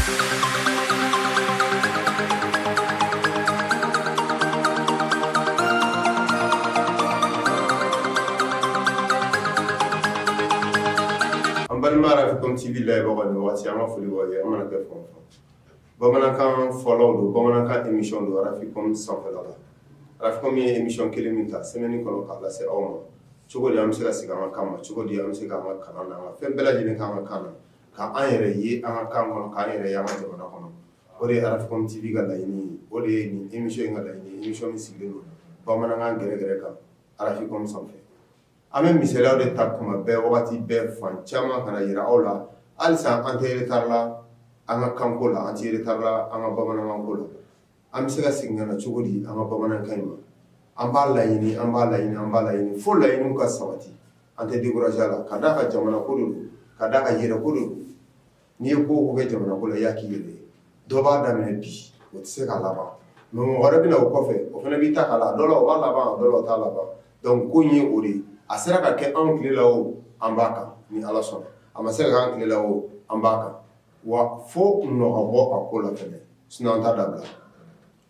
An balima fɛntibi la bɛ an ka foli an mana kɛ fɔ bamanankan fɔ don bamanankan emi don sanfɛ la ara ye emi kelen min ta sɛmɛ kɔnɔ k'a lase aw ma cogo an bɛ se ka sigi an ka kan cogo an bɛ se ka kan fɛn bɛɛ lajɛlen' ka kan ka an yɛrɛ ye an ka kan kɔnɔ k'an yɛrɛ ye an ka jamana kɔnɔ o de ye Arafɔkum TV ka laɲini ye o de ye nin émission in ka laɲini ye émission min sigilen don bamanankan gɛrɛgɛrɛ kan Arafɔkum sanfɛ an bɛ misaliw de ta tuma bɛɛ wagati bɛɛ fan caman ka n'a jira aw la halisa an tɛ retard la an ka kanko la an tɛ retard la an ka bamanankan ko la an bɛ se ka segin ka na cogo di an ka bamanankan in ma an b'a laɲini an b'a laɲini an b'a laɲini fo laɲini ka sabati an tɛ décourager la ka d'a kan jamana ko don ka d'a kan an yɛrɛ ko don n'i ye ko o ko kɛ jamana ko la i y'a k'i yɛrɛ ye dɔ b'a daminɛ bi o tɛ se ka laban mais mɔgɔ wɛrɛ bɛna o kɔfɛ o fana b'a ta k'a la dɔ la o b'a laban dɔ la o t'a laban donc ko in ye o de ye a sera ka kɛ anw tile la o an b'a kan ni ala sɔnna a ma se ka k'an tile la o an b'a kan wa fo nɔ ka bɔ a ko la sinon an t'a dabila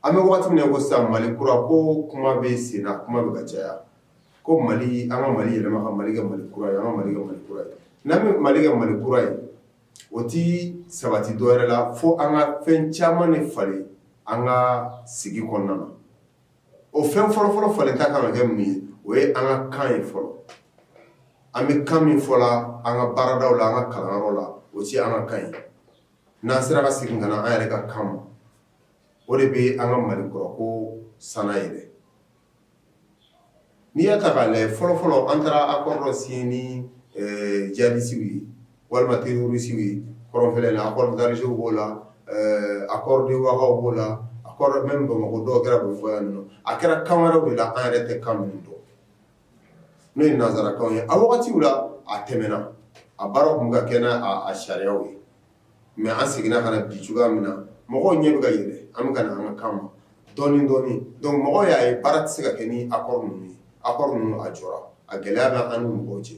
an bɛ waati min na i ko sisan mali kura ko kuma bɛ sen na kuma bɛ ka caya ko mali an ka mali yɛlɛma ka mali kɛ mali kura ye an ka mali kɛ mali kura ye n'an bɛ mali kɛ mali kura ye o tɛ sabati dɔ wɛrɛ la fo an ka fɛn caman in falen an ka sigi kɔnɔna na o fɛn fɔlɔfɔlɔ falenta ka kan ka kɛ mun ye o ye an ka kan ye fɔlɔ an bɛ kan min fɔ an ka baaradaw la an ka kalanyɔrɔ la o tɛ an ka kan ye n'an sera ka segin ka na an yɛrɛ ka kan ma o de bɛ an ka mali kura ko san yɛrɛ n'i y'a ta k'a lajɛ fɔlɔfɔlɔ an taara accord dɔw signer ni jihadisiw ye walima terorisiw ye kɔrɔnfɛla accord d'Alger b'o la accord de Ouaga b'o la accord même bamakɔ dɔw kɛra bɛ fɔ yan a kɛra kan wɛrɛ de la an yɛrɛ tɛ kan minnu dɔn n'o ye nansarakan ye a wagati la a tɛmɛna a baara tun ka kɛ n'a sariyaw ye mais an seginna ka na bi cogoya min na, mɔgɔw ɲɛ bɛ ka yɛlɛ an bɛ ka na an ka kan ma dɔɔnin dɔɔnin donc mɔgɔw y'a ye baara tɛ se ka kɛ ni accord ninnu ye, accord ninnu a jɔra, a gɛlɛya bɛ an n'u ni ɲɔgɔn cɛ,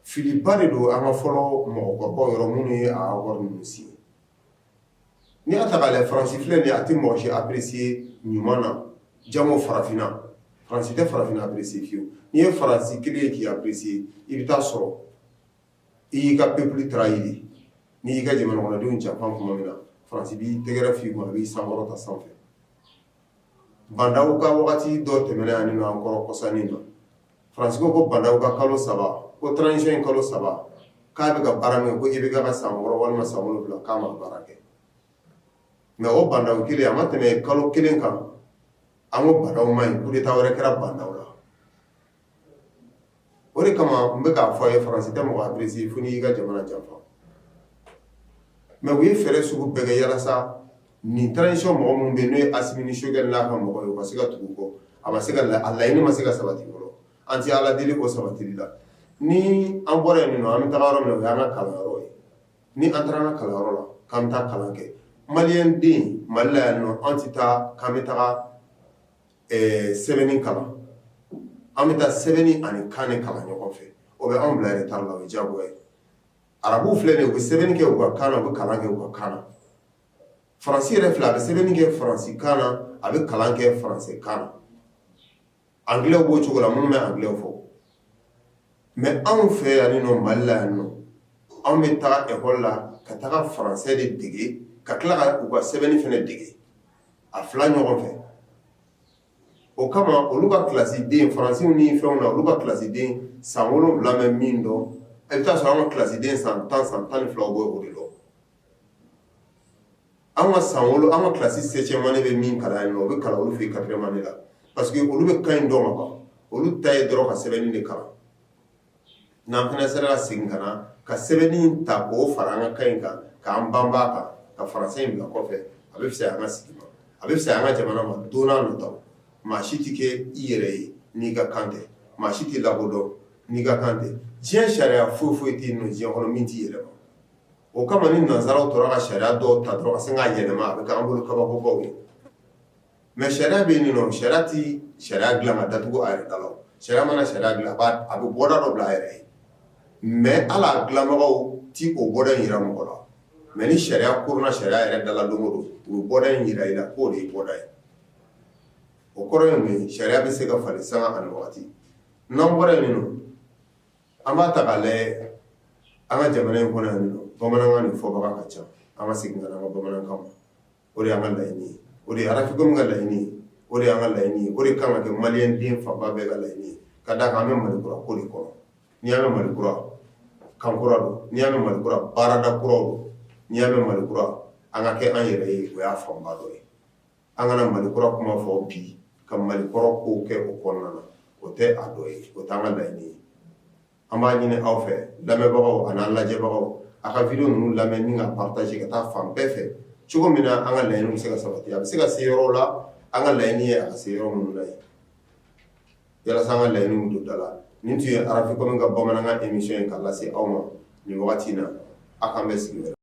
filiba de don an ka fɔlɔ mɔgɔkɔrɔbaw yɔrɔ minnu ye a accord ninnu signé n'i y'a ta k'a lajɛ France filɛ nin ye a tɛ mɔgɔ si apprécier ɲuman na jango farafinna, France tɛ farafinna apprécier fiyewu, n'i ye France kɛlen ye k'i apprécier i bɛ t'a sɔrɔ i y'i ka peuple trahir n'i y'i ka jamanakɔnɔdenw janfa tuma min na France b'i tɛgɛrɛ fɔ i kun, a b'i sankɔrɔta sanfɛ Ba Ndaw ka waati dɔ tɛmɛna yan ninɔ an kɔrɔ kɔsa in na, France ko ko Ba Ndaw ka kalo 3 ko transition in kalo 3 k'a bɛ ka baara min kɛ ko IBK ka san 6 walima san 7 k'a ma baara kɛ mais o Ba Ndaw kelen a ma tɛmɛ kalo kelen kan an ko Ba Ndaw man ɲi coup d'Etat wɛrɛ kɛra Ba Ndaw la. o de kama n bɛ k'a fɔ a ye faransi tɛ mɔgɔ apprécier fo n'i y'i ka jamana janfa mais u ye fɛɛrɛ sugu bɛɛ kɛ yalasa nin transition mɔgɔ minnu bɛ yen n'o ye Asimi Sogɛli n'a ka mɔgɔw ye u ka se ka tugu u kɔ a ma se ka a laɲini ma se ka sabati fɔlɔ an tɛ Ala deli o sabatili la ni an bɔra yen ninɔ an bɛ taga yɔrɔ minna o y'an ka kalanyɔrɔ ye ni an taara an ka kalanyɔrɔ la k'an bɛ taa kalan kɛ maliyɛn den Mali la yan ninɔ an tɛ taa k'an bɛ taga ɛɛ sɛbɛnni kalan an bɛ taa sɛbɛnni ani kan de kalan ɲɔgɔn fɛ o bɛ anw bila retard la o ye diyagoya ye arabuw filɛ nin ye u bɛ sɛbɛnni kɛ u ka kan na u bɛ kalan kɛ u ka kan na faransi yɛrɛ filɛ a bɛ sɛbɛnni kɛ faransikan na a bɛ kalan kɛ faransikan na anglais b'o cogo la minnu bɛ anglais fɔ mais anw fɛ yan nin nɔ Mali la yan nɔ anw bɛ taa école la ka taga français de dege ka tila ka u ka sɛbɛnni fana dege a fila ɲɔgɔn fɛ o kama olu ka kilasiden faransɛw ni fɛnw na olu ka kilasiden san wolonwula bɛ min dɔn a bɛ taa sɔrɔ an ka kilasiden san tan san tan ni fila b'o de dɔn an ka san wolo an ka kilasi septième année bɛ min kalan o bɛ kalan olu fɛ quatrième année la parce que olu bɛ kan in dɔn kaban olu ta ye dɔrɔn ka sɛbɛnni de kalan n'an fana sera ka segin ka na ka sɛbɛnni in ta k'o fara an ka kan in kan k'an banba a kan ka faransɛ in bila kɔfɛ a bɛ fisaya an ka sigi ma a bɛ fisaya an ka jamana ma don nataw maa si tɛ kɛ i yɛrɛ ye n'i ka kan tɛ maa si tɛ lakodɔn n'i ka kan tɛ diɲɛ sariya foyi foyi tɛ yen nɔ diɲɛ kɔnɔ min tɛ yɛlɛma o kama ni nanzaraw tora ka sariya dɔw ta dɔrɔn ka sin k'a yɛlɛma a bɛ k'an bolo kabakobaw ye mɛ sariya bɛ nin sariya tɛ sariya dilan ka datugu a yɛrɛ da la sariya mana sariya dilan a bɛ bɔda dɔ bila a yɛrɛ ye mɛ a ladilanbagaw t'o bɔda in jira mɔgɔ la mɛ ni sariya kona sariya yɛrɛ da la don dɔ u b'o da in jira i la k'o de bɔda ye o kɔrɔ ye min sariya bɛ se ka falen san ani waati n'an bɔra in min an b'a ta k'a lajɛ an ka jamana in kɔnɔ yan bamanankan in fɔbaga ka ca an ka segin ka an ka bamanankan o de y'an ka laɲini ye o de ye farafin ka laɲini ye o de y'an ka laɲini ye o de kan ka kɛ mali den fanba bɛɛ ka laɲini ye ka da an bɛ mali kura ko kɔnɔ n'i y'a mɛn mali kura kan kura don n'i y'a mɛn mali kura baarada kura don n'i y'a mɛn mali kura an ka kɛ an yɛrɛ ye o y'a fanba dɔ ye an kana mali kura kuma fɔ bi ka mali kɔrɔ ko kɛ o kɔnɔna na o tɛ a dɔ ye o y'an ka laɲini ye an b'a ɲini aw fɛ lamɛnbagaw ani an lajɛbagaw a ka video ninnu lamɛn ni ka partager ka taa fan bɛɛ fɛ cogo min na an ka laɲini bɛ se ka sabati a bɛ se ka se yɔrɔw la an ka laɲini ye a ka se yɔrɔ minnu na yen yalasa an ka laɲini bɛ don da la nin tun ye RFI ka bamanankan émission ye k'a lase aw ma nin wagati in na a k'an bɛn sigi wɛrɛ